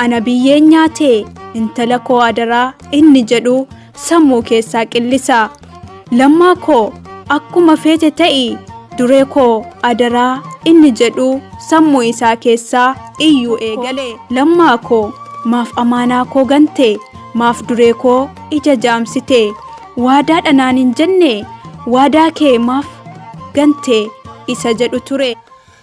Ana biyyeen nyaatee intala koo adaraa inni jedhu sammuu keessaa qillisa. Lammaa koo akkuma feete ta'i duree koo adaraa inni jedhu sammuu isaa keessaa iyyuu eegale. Lammaa koo maaf amaanaa koo gante maaf duree koo ija jaamsite waadaa dhanaan hin jenne waadaa kee maaf gante isa jedhu ture.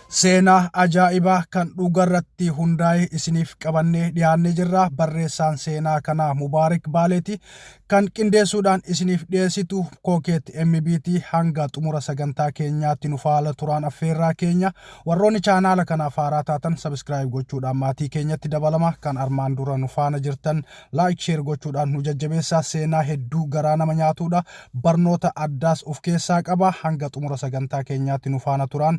Seenaa ajaa'ibaa kan dhugarratti hundaa'e isiniif qabannee dhiyaannee jirra. Barreessaan seenaa kanaa Mubaarik Baaleeti. Kan qindeessuudhaan isiniif dhiyeessitu Kookeet MBT hanga xumura sagantaa keenyaatti nu faala turaan affeerraa keenya. Warroonni chaanaala kanaaf haaraa taatan sabiskiraayib gochuudhaan maatii keenyatti dabalama. Kan armaan dura nu faana jirtan laayik sheer gochuudhaan nu jajjabeessaa. Seenaa hedduu garaa nama nyaatuudha. Barnoota addaas of keessaa qaba. Hanga xumura sagantaa keenyaatti nu faana turaan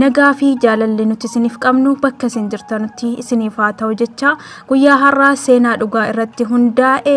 nagaa fi jaalalli nuti isiniif qabnu bakka isin jirtanutti isiniif haa ta'u jecha guyyaa har'aa seenaa dhugaa irratti hundaa'e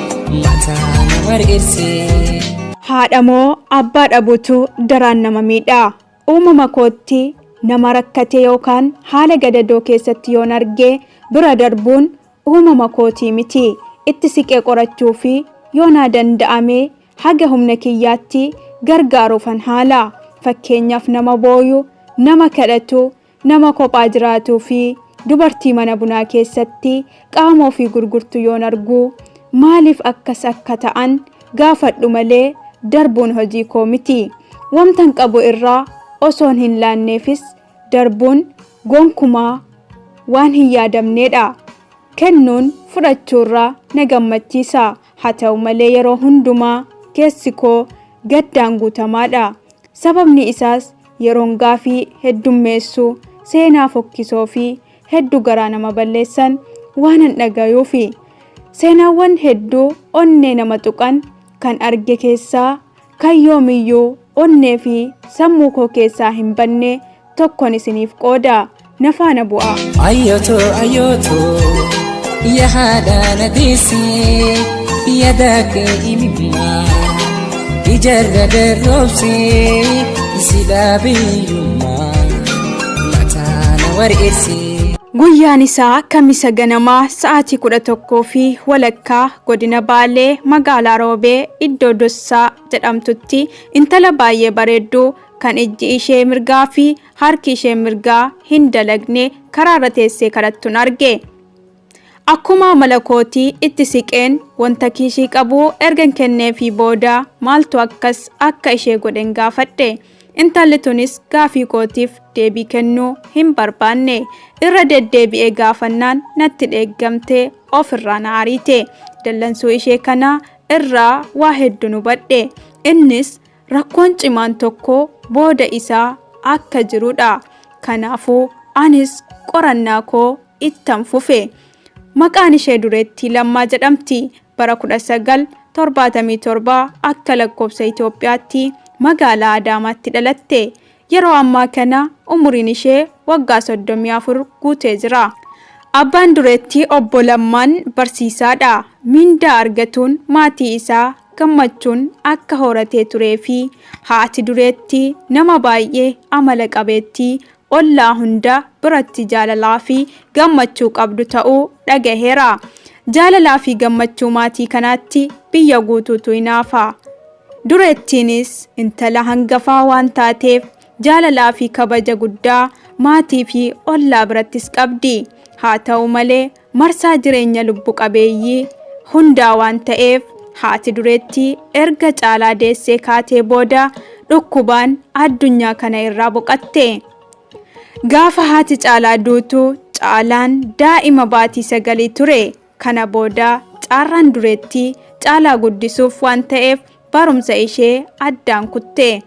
mataa na margeessee. Haadha moo abbaa dhabuutu daraan nama miidha. Uumama kootti nama rakkatee yookaan haala gadadoo keessatti yoon arge bira darbuun uumama kootii miti. Itti siqee qorachuu fi yoo naa danda'ame haga humna kiyyaatti gargaaruufan haala. Fakkeenyaaf nama booyu, nama kadhatu, Nama kophaa jiraatuu fi dubartii mana bunaa keessatti qaama ofii gurgurtu yoon argu maaliif akkas akka ta'an gaafadhu malee darbuun hojii koo miti. Wamtan qabu irraa osoon hin laanneefis darbuun gonkumaa waan hin yaadamneedha. Kennuun fudhachuurra na gammachiisa. Haa ta'u malee yeroo hundumaa keessi koo gaddaan guutamaadha. Sababni isaas yeroon gaafii heddummeessu seenaa fokkisoo fi heddu garaa nama balleessan waanan dhagayuufi. Seenaawwan heddu onnee nama tuqan kan arge keessaa kan yoomiyyuu onnee fi sammuu koo keessaa hin banne tokkon isiniif qooda. Na faana bu'aa. Ayyooto ayyooto yaada na deesse yaada kee imimmaa ijarra darroobse silaa biyyummaa mataa na wareesse. Guyyaan isaa kamisa ganamaa sa'aatii kudha tokkoo fi walakkaa godina Baalee magaalaa Roobee iddoo Dossaa jedhamtutti intala baay'ee bareedduu kan ijji ishee mirgaa fi Harki ishee mirgaa hin dalagne karaarra teessee kadhattun arge. Akkuma amala kootii itti siqeen wanta kiishii qabu ergan kenneefii booda maaltu akkas akka ishee godhen gaafadhe. Intalli tunis gaafii kootiif deebii kennuu hin barbaanne. Irra deddeebi'ee gaafannaan natti dheeggamtee ofirraa na ariite. Dallansuu ishee kana irraa waa hedduun hubadhe. Innis Rakkoon cimaan tokko booda isaa akka jirudha. Kanaafuu anis qorannaa koo ittan fufe. Maqaan ishee Dureettii Lammaa jedhamti. Bara 1977 akka lakkoofsa Itoophiyaatti magaalaa Adaamaatti dhalatte. Yeroo ammaa kana umuriin ishee waggaa 34 guutee jira. Abbaan dureettii Obbo Lammaan barsiisaadha. Mindaa argatuun maatii isaa gammachuun akka horatee turee fi haati dureettii nama baay'ee amala qabeettii ollaa hunda biratti jaalalaa fi gammachuu qabdu ta'uu dhagaheera. Jaalalaa fi gammachuu maatii kanaatti biyya guutuutu hinaafa. Dureettiinis intala hangafaa waan taateef jaalalaa fi kabaja guddaa maatii fi ollaa birattis qabdi. Haa ta'u malee marsaa jireenya lubbu qabeeyyii hundaa waan ta'eef haati dureettii erga caalaa deessee kaatee booda dhukkubaan addunyaa kana irraa boqatte. Gaafa haati caalaa duutu caalaan daa'ima baatii sagalii ture. Kana booda caarraan dureetti caalaa guddisuuf waan ta'eef barumsa ishee addaan kutte.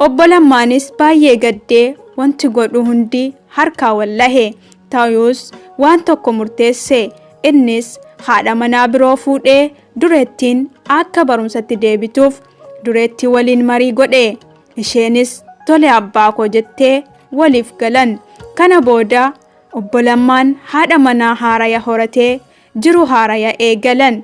Obbo Lammaanis baay'ee gaddee wanti godhu hundi harkaa wallahe. Ta'us waan tokko murteesse. Innis haadha manaa biroo fuudhee dureettiin akka barumsatti deebituuf dureetti waliin marii godhe. Isheenis tole abbaa koo jettee waliif galan. Kana booda Obbo Lammaan haadha manaa haaraya horatee jiruu haaraya eegalan.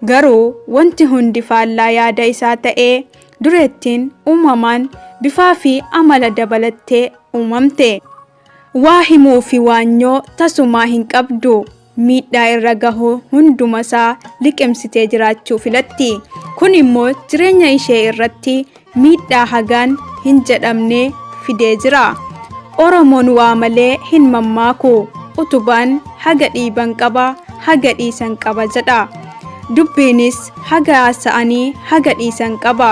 Garuu wanti hundi faallaa yaada isaa ta'ee dureettiin uumamaan bifaa fi amala dabalattee uumamte. Waa himuu fi waanyoo tasumaa hin qabdu. miidhaa irra gahu hundumasaa liqimsitee jiraachuu filatti. Kun immoo jireenya ishee irratti miidhaa hagaan hin jedhamne fidee jira. Oromoon waa malee hin mammaaku. Utubaan haga dhiiban qaba, haga dhiisan qaba jedha. Dubbiinis haga haasa'anii haga dhiisan qaba.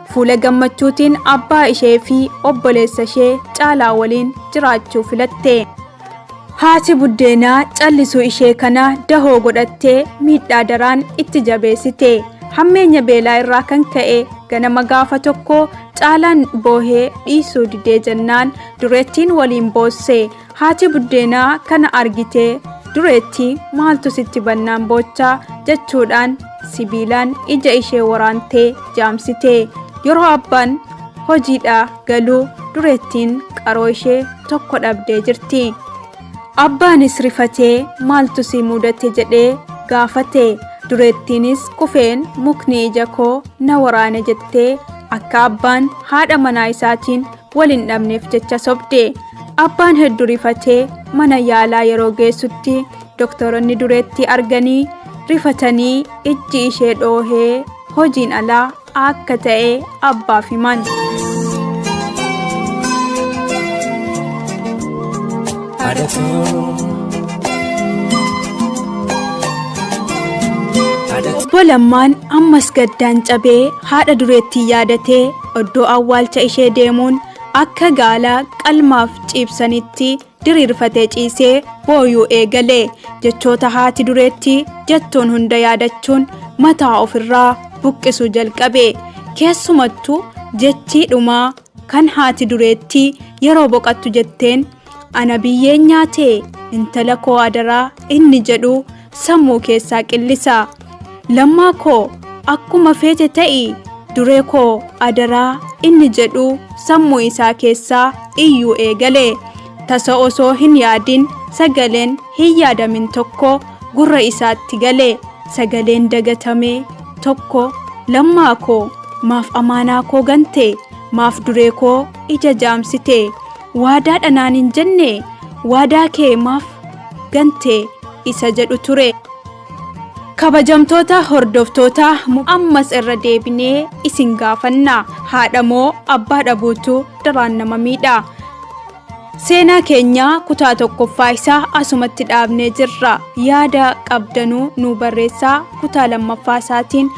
Fuula gammachuutiin abbaa ishee fi obboleessa ishee caalaa waliin jiraachuu filatte. Haati buddeenaa callisuu ishee kana dahoo godhattee miidhaa daraan itti jabeessite. Hammeenya beelaa irraa kan ka'e ganama gaafa tokko caalaan boohee dhiisuu didee jennaan dureettiin waliin boosse. Haati buddeenaa kana argitee dureetti maaltu sitti bannaan boocha jechuudhaan sibiilaan ija ishee waraantee jaamsite. Yeroo abbaan hojiidhaa galu dureettiin qaroo ishee tokko dhabdee jirti. Abbaanis rifatee maaltu si mudate jedhee gaafate. Dureettiinis kufeen mukni ija koo na waraane jettee akka abbaan haadha manaa isaatiin wal hin dhabneef jecha sobde. Abbaan heddu rifatee mana yaalaa yeroo geessutti doktoronni dureetti arganii rifatanii ijji ishee dhoohee hojiin alaa akka ta'e abbaaf himan. Obbo Lammaan ammas gaddaan cabee haadha dureettii yaadatee Oddoo awwaalcha ishee deemuun akka gaala qalmaaf ciibsanitti diriirfatee ciisee booyuu eegale. Jechoota haati dureetti jettuun hunda yaadachuun mataa ofirraa buqqisuu jalqabe. Keessumattu jechii dhumaa kan haati dureetti yeroo boqattu jetteen ana biyyeen nyaatee intala koo adaraa inni jedhu sammuu keessaa qillisa lammaa koo akkuma feete ta'i duree koo adaraa inni jedhu sammuu isaa keessaa iyyuu eegale tasa osoo hin yaadin sagaleen hin yaadamin tokko gurra isaatti gale sagaleen dagatame tokko lammaa koo maaf amaanaa koo gante maaf duree koo ija jaamsite waadaadha naan hin jenne waadaa kee maaf gante isa jedhu ture. Kabajamtoota hordoftoota ammas irra deebinee isin gaafanna haadha moo abbaa dhabuutu daraan nama miidha. Seenaa keenya kutaa tokkoffaa isaa asumatti dhaabnee jirra. Yaada qabdanuu nuu barreessaa kutaa lammaffaa isaatiin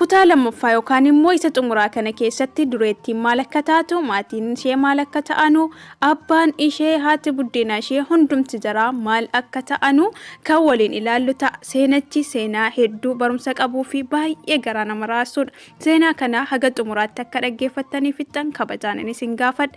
Kutaa lammaffaa yookaan immoo isa xumuraa kana keessatti dureettiin maal akka taatu, maatiin ishee maal akka ta'anu, abbaan ishee, haati buddeenaa ishee hundumti jaraa maal akka ta'anu kan waliin ilaallu ta'a. Seenichi seenaa hedduu barumsa qabuu fi baay'ee garaa nama raasudha. Seenaa kana haga xumuraatti akka dhaggeeffattanii fixxan kabajaan isin gaafadha.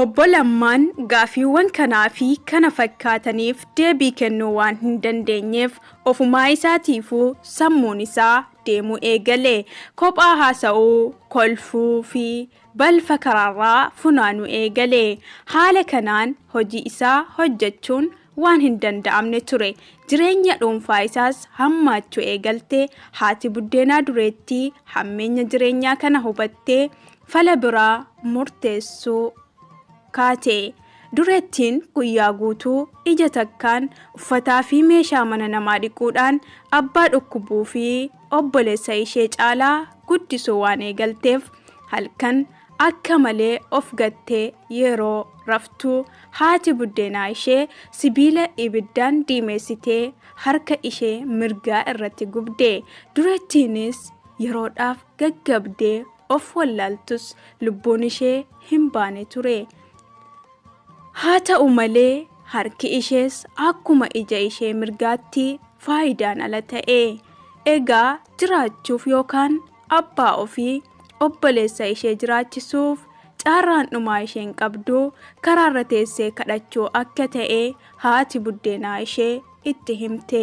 Obbo Lammaan gaaffiiwwan kanaa fi kana fakkaataniif deebii kennuu waan hin dandeenyeef ofumaa isaatiifuu sammuun isaa deemuu eegale. Kophaa haasa'uu, kolfuu fi balfa karaarraa funaanuu eegale. Haala kanaan hojii isaa hojjechuun waan hin danda'amne ture. Jireenya dhuunfaa isaas hammaachuu eegalte. Haati buddeenaa dureettii hammeenya jireenyaa kana hubattee Fala biraa murteessuu kaate. Dureettiin guyyaa guutuu ija takkaan uffataa fi meeshaa mana namaa dhiquudhaan abbaa dhukkubuu fi obboleessa ishee caalaa guddisuu waan eegalteef halkan akka malee of gattee yeroo raftu haati buddeenaa ishee sibiila ibiddaan diimeessitee harka ishee mirgaa irratti gubde. Dureettiinis yeroodhaaf gaggabdee of wallaaltus lubbuun ishee hin baane ture. Haa ta'u malee harki ishees akkuma ija ishee mirgaatti faayidaan ala ta'e. Egaa jiraachuuf yookaan abbaa ofii obboleessa ishee jiraachisuuf carraan dhumaa isheen qabdu karaarra teessee kadhachuu akka ta'e haati buddeenaa ishee itti himte.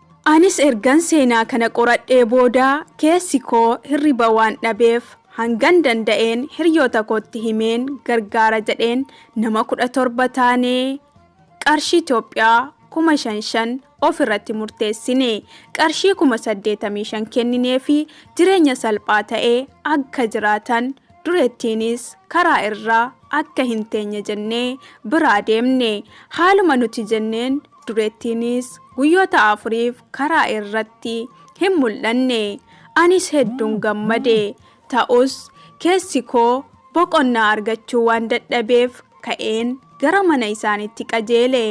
Anis ergan seenaa kana qoradhee booda keessi koo hirriba waan dhabeef hangan danda'een hiryoota kootti himeen gargaara jedheen nama 17 taanee qarshii Itoophiyaa 5,000 of irratti murteessine. Qarshii 85,000 kennineefi jireenya salphaa ta'e akka jiraatan dureettiinis karaa irra akka hin teenye jennee biraa deemne. Haaluma nuti jenneen dureettiinis guyyoota afuriif karaa irratti hin mul'anne. Anis hedduun gammade. Ta'us keessi koo boqonnaa argachuu waan dadhabeef ka'een gara mana isaaniitti qajeele.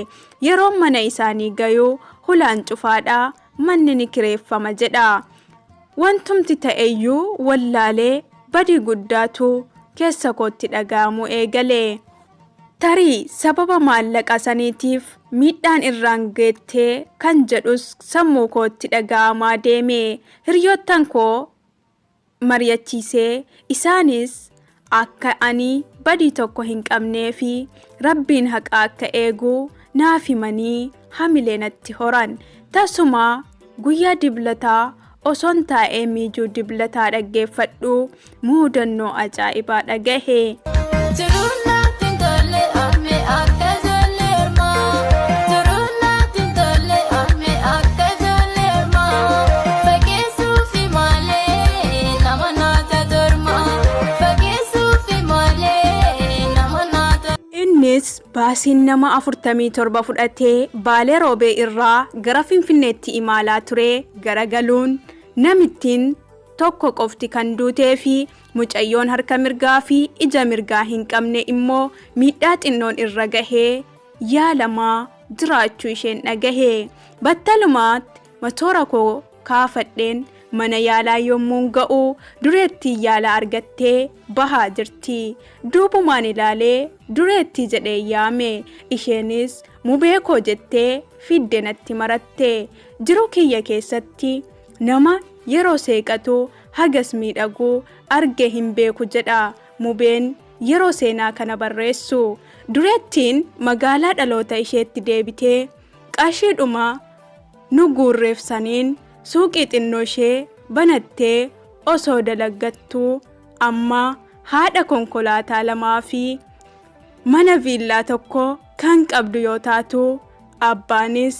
Yeroon mana isaanii gayu hulaan cufaadha, manni ni kireeffama jedha. Wantumti ta'eyyuu wallaalee badii guddaatu keessa kootti dhaga'amuu eegale. Tarii sababa maallaqa saniitiif miidhaan irraan geette kan jedhus sammuu kootti dhaga'amaa deeme. Hiriyoottan koo mari'achiisee isaanis akka ani badii tokko hin qabnee fi rabbiin haqa akka eegu naaf himanii hamilee natti horan. Tasumaa guyyaa diblataa Osoon taa'ee miijuu diblataa dhaggeeffadhu muudannoo ajaa'ibaa dhagahe. Jiruun naatti hin tolle ame akka ijoollee ormaa. Jiruun naatti hin tolle ame akka ijoollee ormaa. Fageessuufi malee nama naata torma. Fageessuufi malee nama naata. Innis baasiin nama 47 fudhatee Baalee Roobee irraa gara Finfinneetti imaalaa ture garagaluun namittiin tokko qofti kan duutee fi mucayyoon harka mirgaa fi ija mirgaa hin qabne immoo miidhaa xinnoon irra gahee yaalamaa jiraachuu isheen dhagahe. Battalumaatti matoora koo kaafadheen mana yaalaa yommuun ga'u dureettiin yaala argattee bahaa jirti. Duubumaan ilaalee dureettii jedhee yaame. Isheenis mubee koo jettee fidde natti maratte. Jiruu kiyya keessatti nama yeroo seeqatu hagas miidhagu argee hin beeku jedha Mubeen yeroo seenaa kana barreessu. Dureettiin magaalaa dhaloota isheetti deebitee qarshiidhuma nu guurreef saniin suuqii xinnoo ishee banattee osoo dalaggattuu amma haadha konkolaataa lamaa fi mana viillaa tokko kan qabdu yoo taatu, abbaanis.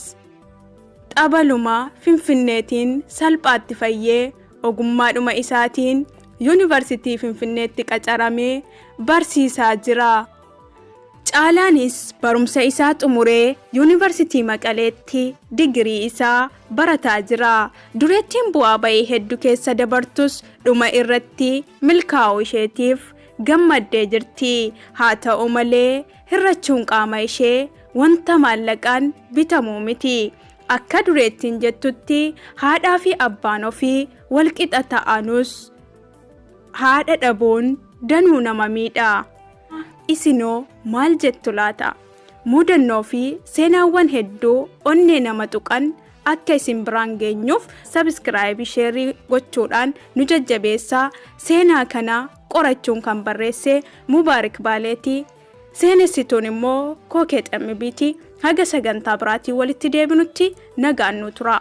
Xabaluma Finfinneetiin salphaatti fayyee ogummaadhuma isaatiin Yuunivarsitii Finfinneetti qacaramee barsiisaa jira. Caalaanis barumsa isaa xumuree Yuunivarsitii Maqaleetti digirii isaa barataa jira. Dureettiin bu'aa ba'ii heddu keessa dabartus dhuma irratti milkaa'uu isheetiif gammaddee jirti. Haa ta'u malee Hir'achuun qaama ishee wanta maallaqaan bitamu miti. Akka dureettiin jettutti haadhaa fi abbaan ofii wal qixa ta'anus haadha dhabuun danuu nama miidha. Isinoo maal jettu laata? Mudannoo fi seenaawwan hedduu onnee nama tuqan akka isin biraan geenyuuf sabiskiraayibii sheerii gochuudhaan nu jajjabeessaa seenaa kana qorachuun kan barreesse Mubaarik Baaleeti. Seenessituun immoo Kookee Xammibiiti. Haga sagantaa biraatiin walitti deebinutti nagaan nuu turaa.